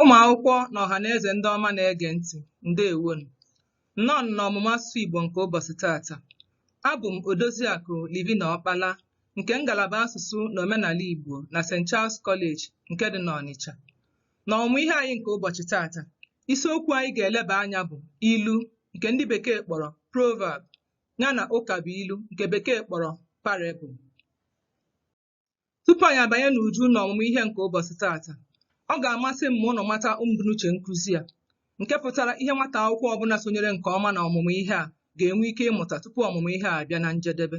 Ụmụ akwụkwọ na ọha na eze ndị ọma na-ege ntị, ndeewonụ. Nnọọ n'ọmụmụ asụsụ Igbo nke ụbọchị taata. Abụ m Odoziakụ Livina Ọkpala nke ngalaba asụsụ na omenala Igbo na St. Charles College nke dị n'Ọnịcha. N'ọmụmụ ihe anyị nke ụbọchị taata, isiokwu anyị ga-eleba anya bụ ilu nke ndị bekee kpọrọ proverb yana ụkabụilu nke bekee kpọrọ parable. Tupu anyị abanye n'uju na ọmụmụ ihe nke ụbọchị taata, ọ ga-amasị m ma unu mata mbunuche nkụzi a, nke pụtara ihe nwata akwụkwọ ọbụla sonyere nke ọma na ọmụmụ ihe a ga-enwe ike ịmụta tupu ọmụmụ ihe a abịa na njedebe.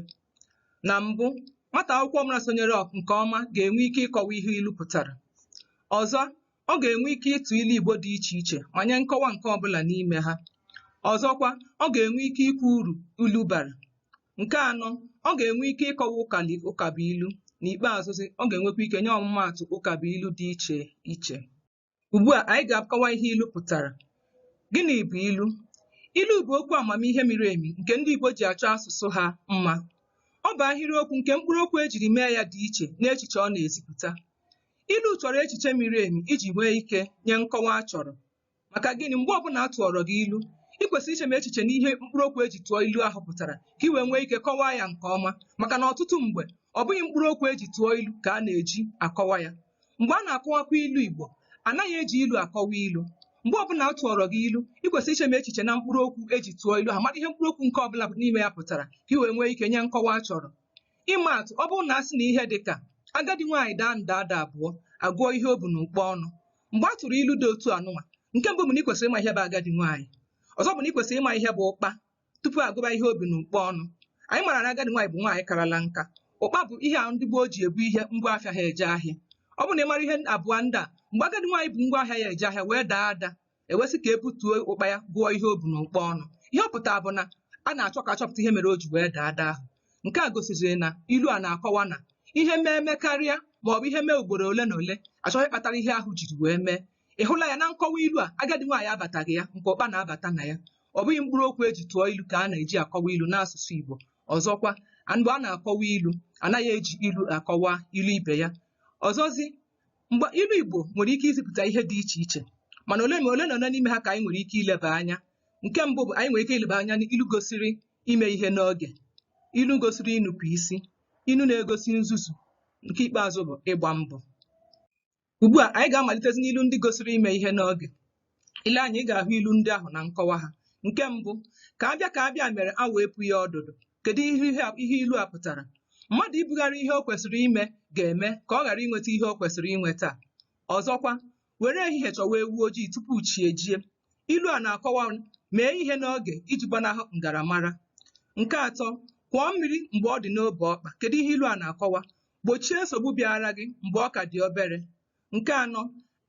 Na mbụ, nwata akwụkwọ ọbụla sonyere nke ọma ga-enwe ike ịkọwa ihe ilu pụtara. Ọzọ, ọ ga-enwe ike ịtụ ilu Igbo dị iche iche ma nye nkọwa nke ọbụla n'ime ha. Ọzọkwa, ọ ga-enwe ike ikwu uru ilu bara. Nke anọ, ọ ga-enwe ike ịkọwa ụkali ụkabụilu. N'ikpeazụzi, ọ ga-enwekwa ike nye ọmụmaatụ ụkabụilu dị iche iche. Ugbu a, anyị ga-akọwa ihe ilu pụtara. Gịnị bụ ilu? Ilu bụ okwu amamihe miri emi nke ndị Igbo ji achọ asụsụ ha mma. Ọ bụ ahịrịokwu nke mkpụrụokwu e jiri mee ya dị iche n'echiche ọ na-ezipụta. Ilu chọrọ echiche miri emi iji nwee ike nye nkọwa a chọrọ. Maka gịnị? Mgbe ọbụla a tụọrọ gị ilu, i kwesịrị ichemi echiche n'ihe mkpụrụ okwu e ji tụọ ilu ahụ pụtara ka i wee nwee ike kọwaa ya nke ọma maka na ọtụtụ mgbe, ọ bụghị mkpụrụ okwu e ji tụọ ilu ka a na-eji akọwa ya. Mgbe a na-akọwakwa ilu Igbo, a naghị eji ilu akọwa ilu. Mgbe ọbụla a tụọrọ gị ilu, i kwesịrị ichemi echiche na mkpụrụ okwu e ji tụọ ilu ahụ, mara ihe mkpụrụ okwu nke ọbụla n'ime ya pụtara ka i wee nwee ike nye nkọwa a chọrọ. Ịma atụ, ọ bụrụ na a sị na ihe dị ka agadi nwaanyị daa nda ada abụọ a gụọ ihe o bu n'ụkpa ọnụ mgbe a tụrụ ilu dị otu anụnwa nke mbụ bụ na i kwesịrị ịma ihe bụ agadi nwaanyị ọzọ bụ na i kwesịrị ịma ihe bụ ụkpa tupu a gụba ihe o bu n'ụkpa ọnụ anyị mara na agadi nwaanyị bụ nwaanyị karala nka ụkpa bụ ihe a ndị gboo ji ebu ihe ngwa afịa ha eje ahịa ọ bụrụ na ị mara ihe abụọ ndị a mgbe agadi nwaanyị bu ngwa ahịa ya eje ahịa wee daa ada e wee sị ka e butuo ụkpa ya gụọ ihe o bu n'ụkpa ọnụ ihe ọ pụtara bụ na a na-achọ ka a chọpụta ihe mere o ji wee daa ada ahụ nke a gosiziri na ilu a na-akọwa na ihe mee mekarịa ma ọ bụ ihe mee ugboro ole na ole a chọọ ihe kpatara ihe ahụ jiri wee mee ị hụla ya na nkọwa ilu a agadi nwaanyị abataghị ya nke ụkpa na-abata na ya ọ bụghị mkpụrụ okwu e ji tụọ ilu ka a na-eji akọwa ilu n'asụsụ Igbo ọzọkwa mgbe a na-akọwa ilu a naghị eji ilu akọwa ilu ibe ya ọzọzi mgbe ilu Igbo nwere ike izipụta ihe dị iche iche mana ole ma ole na ole n'ime ha ka anyị nwere ike ileba anya nke mbụ bụ anyị nwere ike ileba anya n'ilu gosiri ime ihe n'oge ilu gosiri inupụ isi ilu na-egosi nzuzu nke ikpeazụ bụ ịgba mbọ ugbu a anyị ga-amalitezi n'ilu ndị gosiri ime ihe n'oge ile anya ị ga-ahụ ilu ndị ahụ na nkọwa ha nke mbụ ka a bịa ka a bịa mere awọ epughị ọdụdụ kedu ihe ihe a- ihe ilu a pụtara mmadụ ibugharị ihe o kwesịrị ime ga-eme ka ọ ghara inweta ihe o kwesịrị inweta ọzọkwa were ehihie chọwa ewu ojii tupu chi ejie ilu a na-akọwa mee ihe n'oge iji gbanahụ ngaramara nke atọ kwọọ mmiri mgbe ọ dị n'obe ọkpa kedu ihe ilu a na-akọwa gbochie nsogbu bịara gị mgbe ọ ka dị obere nke anọ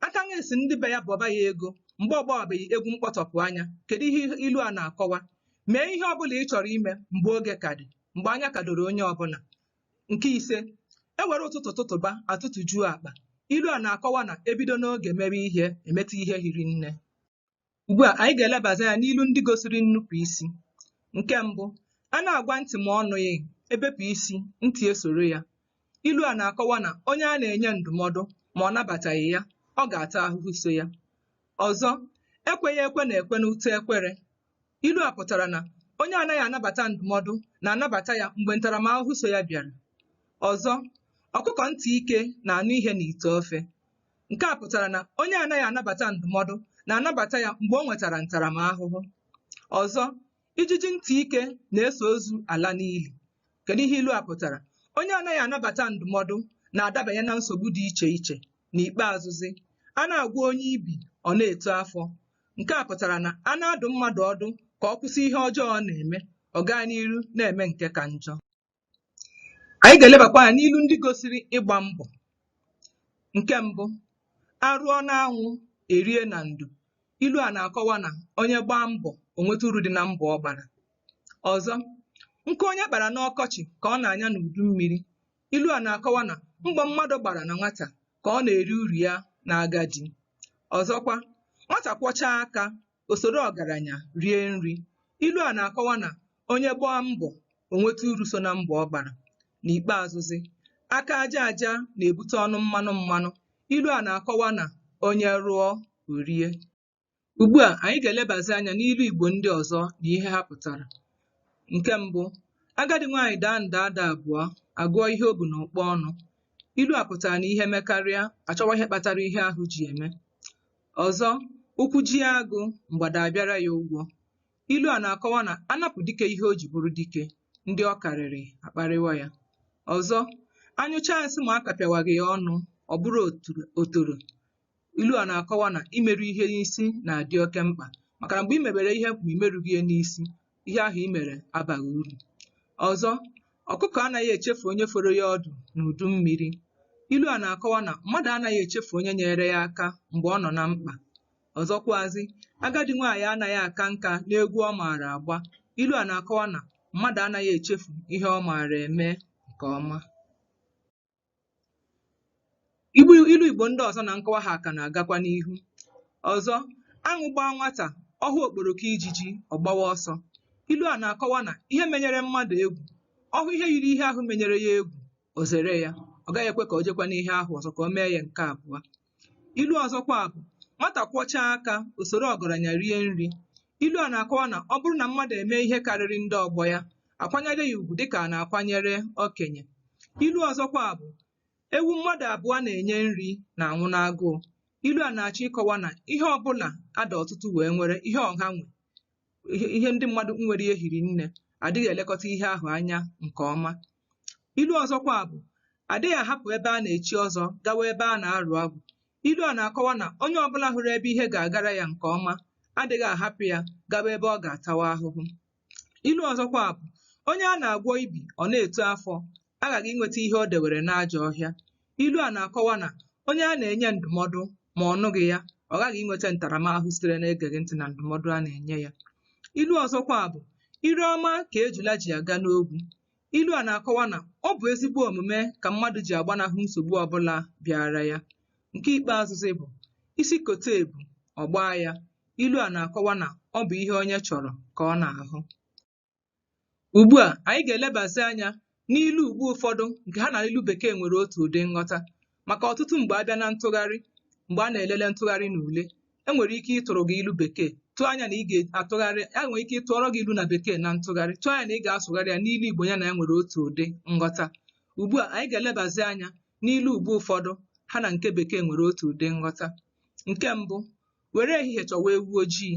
aka nwa esi ndị be ya bọba ya ego mgbe ọ gbawabeghị egwu mkpọtọpụ anya kedu ihe ilu a na-akọwa mee ihe ọ bụla ị chọrọ ime mgbe oge ka dị mgbe anya ka doro onye ọbụla nke ise e were ụtụtụ tụtụba a tụtụjuo akpa ilu a na-akọwa na e bido n'oge mere ihe e meta ihe hiri nne Ugbu a, anyị ga-elebazi anya n'ilu ndị gosiri nnupụ isi. Nke mbụ, a na-agwa ntị ma ọ nụghị, e bepụ isi, ntị esoro ya. Ilu a na-akọwa na onye a na-enye ndụmọdụ ma ọ nabataghị ya, ọ ga-ata ahụhụ so ya. Ọzọ, ekweghị ekwe na-ekwe n'ute ekwere. Ilu a pụtara na onye anaghị anabata ndụmọdụ na-anabata ya mgbe ntaramahụhụ so ya bịara. Ọzọ, ọkụkọ ntị ike na-anụ ihe n'ite ofe. Nke a pụtara na onye anaghị anabata ndụmọdụ na-anabata ya mgbe o nwetara ntaramahụhụ. Ọzọ, ijiji ntị ike na-eso ozu ala n'ili. Kedu ihe ilu a pụtara? Onye anaghị anabata ndụmọdụ na-adabanye na nsogbu dị iche iche. N'ikpeazụzi, a na-agwọ onye ibi, ọ na-eto afọ. Nke a pụtara na a na-adụ mmadụ ọdụ ka ọ kwụsị ihe ọjọọ ọ na-eme, ọ gaa n'iru na-eme nke ka njọ. anyị ga-elebakwa anya n'ilu ndị gosiri ịgba mbọ nke mbụ a rụọ n'anwụ e rie na ndo ilu a na-akọwa na onye gbaa mbọ o nweta uru dị na mbọ ọ gbara ọzọ nkụ onye kpara n'ọkọchị ka ọ na-anya n'udu mmiri ilu a na-akọwa na mbọ mmadụ gbara na nwata ka ọ na-eri uru ya n'agadi ọzọkwa nwata kwọchaa aka o soro ọgaranya rie nri. Ilu a na-akọwa na onye gbaa mbọ o nweta uru so na mbọ ọ gbara. N'ikpeazụzị, aka aja aja na-ebute ọnụ mmanụ mmanụ. Ilu a na-akọwa na onye rụọ o rie. Ugbu a, anyị ga-elebazị anya n'ilu Igbo ndị ọzọ na ihe ha pụtara. Nke mbụ, agadi nwaanyị daa nda ada abụọ, a gụọ ihe o bu n'ụkpa ọnụ. Ilu a pụtara na ihe mekarịa, a chọwa ihe kpatara ihe ahụ ji eme. Ọzọ, ụkwụ jie agụ, mgbada abịara ya ụgwọ. Ilu a na-akọwa na a napụ dike ihe o ji bụrụ dike, ndị ọ karịrị akparịwa ya. Ọzọ, a nyụchaa nsị ma a kapịawaghị ya ọnụ, ọ bụrụ otoro. Ilu a na-akọwa na imeru ihe n'isi na-adị oke mkpa maka na mgbe i mebere ihe ma i merughị ya n'isi, ihe ahụ i mere abaghị uru ọzọ ọkụkọ anaghị echefu onye foro ya ọdụ n'udu mmiri ilu a na-akọwa na mmadụ anaghị echefu onye nyeere ya aka mgbe ọ nọ na mkpa ọzọkwazi agadi nwaanyị anaghị aka nka n'egwu ọ maara agba ilu a na-akọwa na mmadụ anaghị echefu ihe ọ maara eme nke ọma Ilu Igbo ndị ọzọ na nkọwa ha ka na-agakwa n'ihu. Ọzọ, aṅụ gbaa nwata, ọ hụ okporoko ijiji, ọ gbawa ọsọ. Ilu a na-akọwa na ihe menyere mmadụ egwu, ọ hụ ihe yiri ihe ahụ menyere ya egwu, o zere ya. Ọ gaghị ekwe ka o jekwa n'ihe ahụ ọzọ ka o mee ya nke abụọ. Ilu ọzọkwa bụ nwata kwọchaa aka o soro ọgaranya rie nri. Ilu a na-akọwa na ọ bụrụ na mmadụ emee ihe karịrị ndị ọgbọ ya, a kwanyere ya ugwu dịka a na-akwanyere okenye. Ilu ọzọkwa bụ ewu mmadụ abụọ na-enye nri na-anwụ n'agụụ. Ilu a na-achọ ịkọwa na ihe ọbụla a dị ọtụtụ wee nwere, ihe ọha nwe, ihe ndị mmadụ nwere ya hiri nne, adịghị elekọta ihe ahụ anya nke ọma. ilu ọzọkwa bụ adịghị ahapụ ebe a na-echi ọzọ gawa ebe a na-arụ agwụ ilu a na-akọwa na onye ọbụla hụrụ ebe ihe ga-agara ya nke ọma adịghị ahapụ ya gawa ebe ọ ga-atawa ahụhụ ilu ọzọkwa bụ onye a na-agwọ ibi ọ na-eto afọ aghaghị inweta ihe o dewere n'ajọ ọhịa ilu a na-akọwa na onye a na-enye ndụmọdụ ma ọ nụghị ya ọ ghaghị inweta ntaramahụhụ sitere n'egeghị ntị na ndụmọdụ a na-enye ya ilu ọzọkwa bụ ire ọma ka ejula ji aga n'ogwu Ilu a na-akọwa na ọ bụ ezigbo omume ka mmadụ ji agbanahụ nsogbu ọbụla bịaara ya. Nke ikpeazụzi bụ isi kote ebu, ọ gbaa ya. Ilu a na-akọwa na ọ bụ ihe onye chọrọ ka ọ na-ahụ. Ugbu a, anyị ga-elebazi anya n'ilu Igbo ụfọdụ nke ha na ilu Bekee nwere otu ụdị nghọta. maka ọtụtụ mgbe a bịa na ntụgharị mgbe a na-elele ntụgharị na ule e nwere ike ịtụrụ gị ilu bekee tụọ anya na ị ga-atụgharị e nwere ike ịtụọrọ gị ilu na bekee na ntụgharị tụọ anya na ị ga-asụgharị ya n'ilu igbo ya na ya nwere otu ụdị nghọta ugbu a anyị ga-elebazi anya n'ilu ugbo ụfọdụ ha na nke bekee nwere otu ụdị nghọta nke mbụ were ehihie chọwa ewu ojii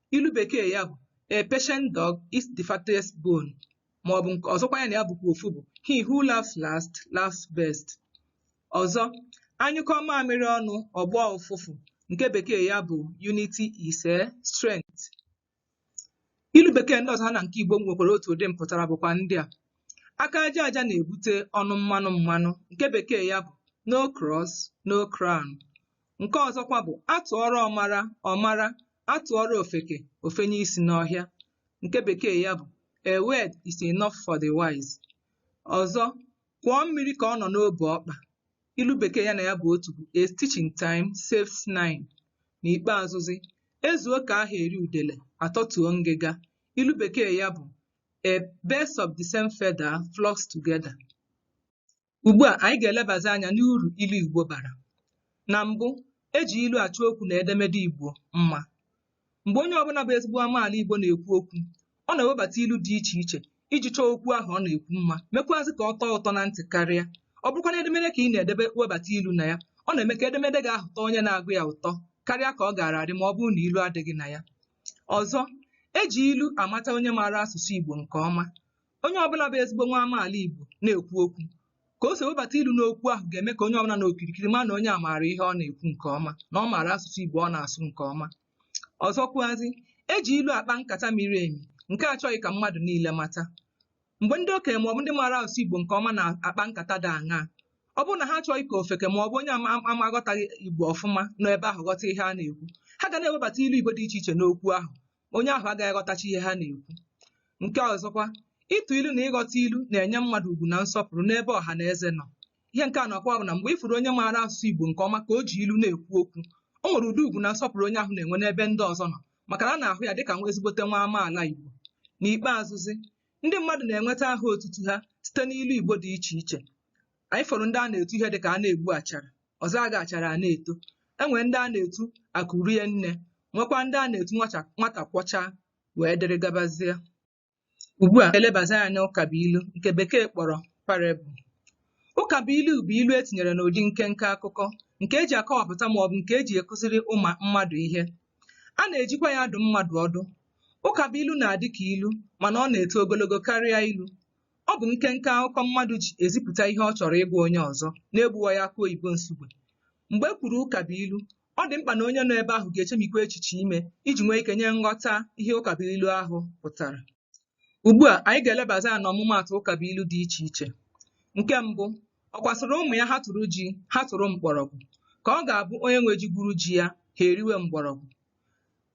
ilu bekee ya bụ a patient dog eats the fattest bone ma ọ bụ nke ọzọkwa ya na ya bụkwa ofu bụ he who laughs last laughs best ọzọ a nyụkọọ mamịrị ọnụ ọ gbọọ ụfụfụ nke bekee ya bụ unity is a strength ilu bekee ndị ọzọ ha na nke igbo nwekwara otu ụdị mpụtara bụkwa ndị a aka aja aja na-ebute ọnụ mmanụ mmanụ nke bekee ya bụ no cross no crown nke ọzọkwa bụ atụọrọ ọmara ọmara atụọrọ ofeke ofenye isi n'ọhịa nke bekee ya bụ a word is enough for the wise ọzọ kwọọ mmiri ka ọ nọ n'obu ọkpa ilu bekee ya na ya bụ otu bụ a stitch in time saves nine n'ikpeazụzi ezuo ka aha eri udele atọtuo ngịga ilu bekee ya bụ a birds of the same feather flocks together Ugbu a anyị ga-elebazi anya n'uru ilu Igbo bara. Na mbụ, e ji ilu achọ okwu na edemede Igbo mma. Mgbe onye ọbụla bụ ezigbo amaala Igbo na-ekwu okwu, ọ na-ewebata ilu dị iche iche iji chọọ okwu ahụ ọ na-ekwu mma, mekwuazị ka ọ tọọ ụtọ na ntị karịa. Ọ bụrụkwa na edemede ka ị na-ede, e webata ilu na ya, ọ na-eme ka edemede gị ahụ tọọ onye na-agụ ya ụtọ karịa ka ọ gaara adị ma ọ bụrụ na ilu adịghị na ya. Ọzọ, e ji ilu amata onye maara asụsụ Igbo nke ọma. onye ọbụla bụ ezigbo nwa amaala Igbo na-ekwu okwu ka o si ewebata ilu n'okwu ahụ ga-eme ka onye ọbụla nọ okirikiri ma na onye a maara ihe ọ na-ekwu nke ọma na ọ maara asụsụ Igbo ọ na-asụ nke ọma ọzọkwuazị eji ilu akpa nkata miri emi nke achọghị ka mmadụ niile mata mgbe ndị okenye maọbụ ndị maara asụsụ Igbo nke ọma na-akpa nkata dị aṅaa ọ bụrụ na ha achọghị ka ofeke ma ọ bụ onye ama aghọtaghị Igbo ọfụma nọ ebe ahụ ghọta ihe a na-ekwu ha ga na-ewebata ilu Igbo dị iche iche n'okwu ahụ onye ahụ agaghị aghọtacha ihe ha na-ekwu nke ọzọkwa ịtụ ilu na ịghọta ilu na-enye mmadụ ugwu na nsọpụrụ n'ebe ọha na eze nọ ihe nke a na-akọwa bụ na mgbe ịfụrụ onye maara asụsụ Igbo nke ọma ka o ji ilu na-ekwu okwu o nwere ụdị ugwu na nsọpụrụ onye ahụ na-enwe n'ebe ndị ọzọ nọ maka na a na-ahụ ya dịka nwa ezigbote nwa amaala Igbo n'ikpeazụzi ndị mmadụ na-enweta aha otutu ha site n'ilu Igbo dị iche iche anyị fụrụ ndị a na-etu ihe dịka a na-egbu achara ọ zaa gị achara a na-eto enwere ndị a na-etu akụ rie nne nwekwa ndị a na-etu nwacha- nwata kwọchaa wee dịrị gabazie ugbu a elebazi anya n'ụkabụilu nke bekee kpọrọ parable ụkabụilu bụ ilu etinyere n'ụdị nkenke akụkọ nke eji akọwapụta ma ọ bụ nke eji akụziri ụmụ mmadụ ihe a na-ejikwa ya adụ mmadụ ọdụ ụkabụilu na-adị ka ilu mana ọ na-eto ogologo karịa ilu Ọ bụ nkenke akụkọ mmadụ ji ezipụta ihe ọ chọrọ ịgwa onye ọzọ n'egbuwaghị akụ oyibo Nsugbe. Mgbe e kwuru ụkabụilu, ọ dị mkpa na onye nọ ebe ahụ ga-echemikwa echiche ime iji nwee ike nye nghọta ihe ụkabụilu ahụ pụtara. Ugbu a, anyị ga-elebazi anya n'ọmụmaatụ ụkabụilu dị iche iche. Nke mbụ, ọkwa sịrị ụmụ ya ha tụrụ ji, ha tụrụ mkpọrọgwụ. Ka ọ ga-abụ onye nwe ji gwuru ji ya, ha eriwe mgbọrọgwụ.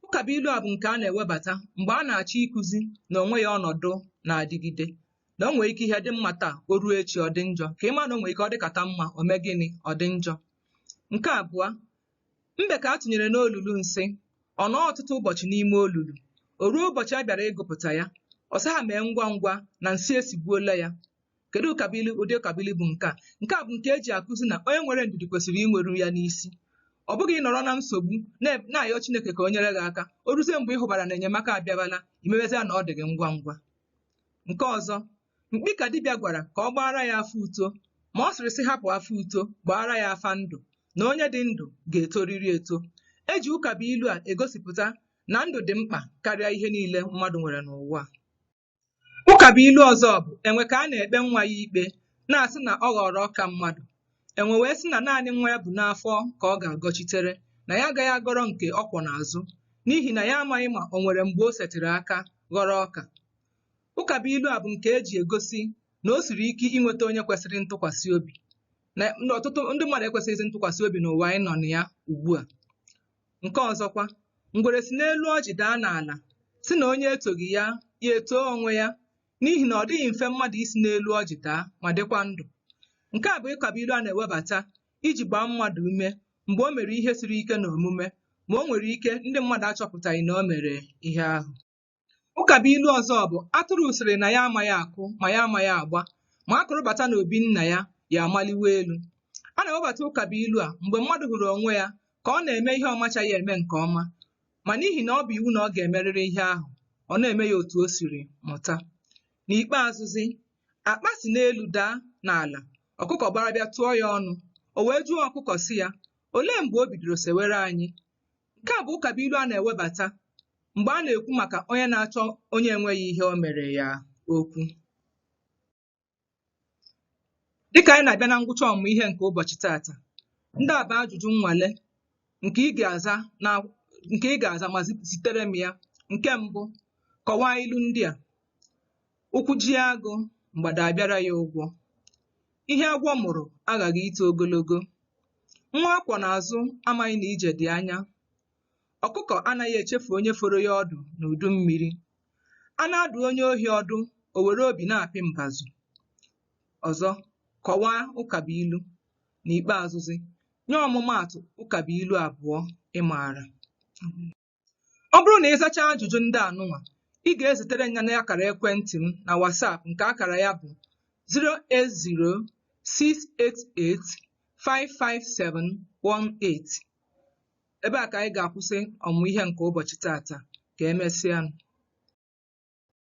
Ụkabụilu a bụ nke a na-ewebata mgbe a na-achọ ịkụzi na o nweghị ọnọdụ na-adịgide na o nwere ike ihe dị mma taa o ruo echi ọ dị njọ ka ị ma na o nwere ike ọ dịkata mma o mee gịnị ọ dị njọ nke abụọ mbe ka a tụnyere n'olulu nsị ọ nọọ ọtụtụ ụbọchị n'ime olulu o ruo ụbọchị a bịara ịgụpụta ya ọ sị ha mee ngwa ngwa na nsị esigbuola ya kedu ụkabụilu ụdị ụkabụilu bụ nke a nke a bụ nke e ji akụzi na onye nwere ndidi kwesịrị inweru ya n'isi ọ bụghị ịnọrọ na nsogbu na- na-ayọ Chineke ka o nyere gị aka o ruzie mgbe ị hụbara na enyemaka abịabala i mewezia na ọ dị gị ngwa ngwa nke ọzọ mkpi ka dibịa gwara ka ọ gbaara ya afa uto ma ọ sịrị sị hapụ afa uto gbaara ya afa ndụ na onye dị ndụ ga-etoriri eto e ji ụkabụilu a egosipụta na ndụ dị mkpa karịa ihe niile mmadụ nwere n'ụwa a. Ụkabụilu ọzọ bụ enwe ka a na-ekpe nwa ya ikpe na-asị na ọ ghọrọ ọka mmadụ enwe wee sị na naanị nwa ya bu n'afọ ka ọ ga-agọchitere na ya agaghị agọrọ nke ọ kwọ n'azụ n'ihi na ya amaghị ma o nwere mgbe o setịrị aka ghọrọ ọka ụkabụilu a bụ nke e ji egosi na o siri ike inweta onye kwesịrị ntụkwasị obi na ọtụtụ ndị mmadụ ekwesịghịzi ntụkwasị obi n'ụwa anyị nọ na ya ugbu a Nke ọzọkwa, ngwere si n'elu ọjị daa n'ala, sị na onye etoghị ya, ya etoo onwe ya, n'ihi na ọ dịghị mfe mmadụ isi n'elu ọjị daa ma dịkwa ndụ. Nke a bụ ụkabụilu a na-ewebata iji gbaa mmadụ ume mgbe o mere ihe siri ike n'omume ma o nwere ike ndị mmadụ achọpụtaghị na o mere ihe ahụ. Ụkabụilu ọzọ bụ atụrụ sịrị na ya amaghị akụ ma ya amaghị agba ma a kụrụ bata n'obi nna ya ya amaliwe elu. A na-ewebata ụkabụilu a mgbe mmadụ hụrụ onwe ya ka ọ na-eme ihe ọ machaghị eme nke ọma ma n'ihi na ọ bụ iwu na ọ ga-emerịrị ihe ahụ ọ na-eme ya otu o siri mụta. N'ikpeazụzi, akpa si n'elu daa n'ala, ọkụkọ gbara bịa tụọ ya ọnụ. O wee jụọ ọkụkọ sị ya, Olee mgbe o bidoro sewere anyị? Nke a bụ ụkabụilu a na-ewebata mgbe a na-ekwu maka onye na-achọ onye enweghị ihe o mere ya okwu. Dịka anyị na-abịa na ngwụcha ọmụmụ ihe nke ụbọchị taata, ndị a bụ ajụjụ nnwale nke ị ga-aza na nke ị ga-aza ma zi- zitere m ya. Nke mbụ, kọwaa ilu ndị a. Ụkwụ jie agụ, mgbada abịara ya ụgwọ. Ihe agwọ mụrụ aghaghị ito ogologo. Nwa a kwọ n'azụ amaghị na ije dị anya. Ọkụkọ anaghị echefu onye foro ya ọdụ n'udu mmiri. A na-adụ onye ohi ọdụ, o were obi na-apị mbazụ. Ọzọ, kọwaa ụkabụilu. N'ikpeazụzi, nye ọmụmaatụ ụkabụilu abụọ ị maara. Ọ bụrụ na ị zachaa ajụjụ ndị a nụnwa, ị ga-ezitere m ya n'akara ekwentị m na WhatsApp nke akara ya bụ 08068855718. Ebe a ka anyị ga-akwụsị ọmụmụ ihe nke ụbọchị taata. Ka emesịa.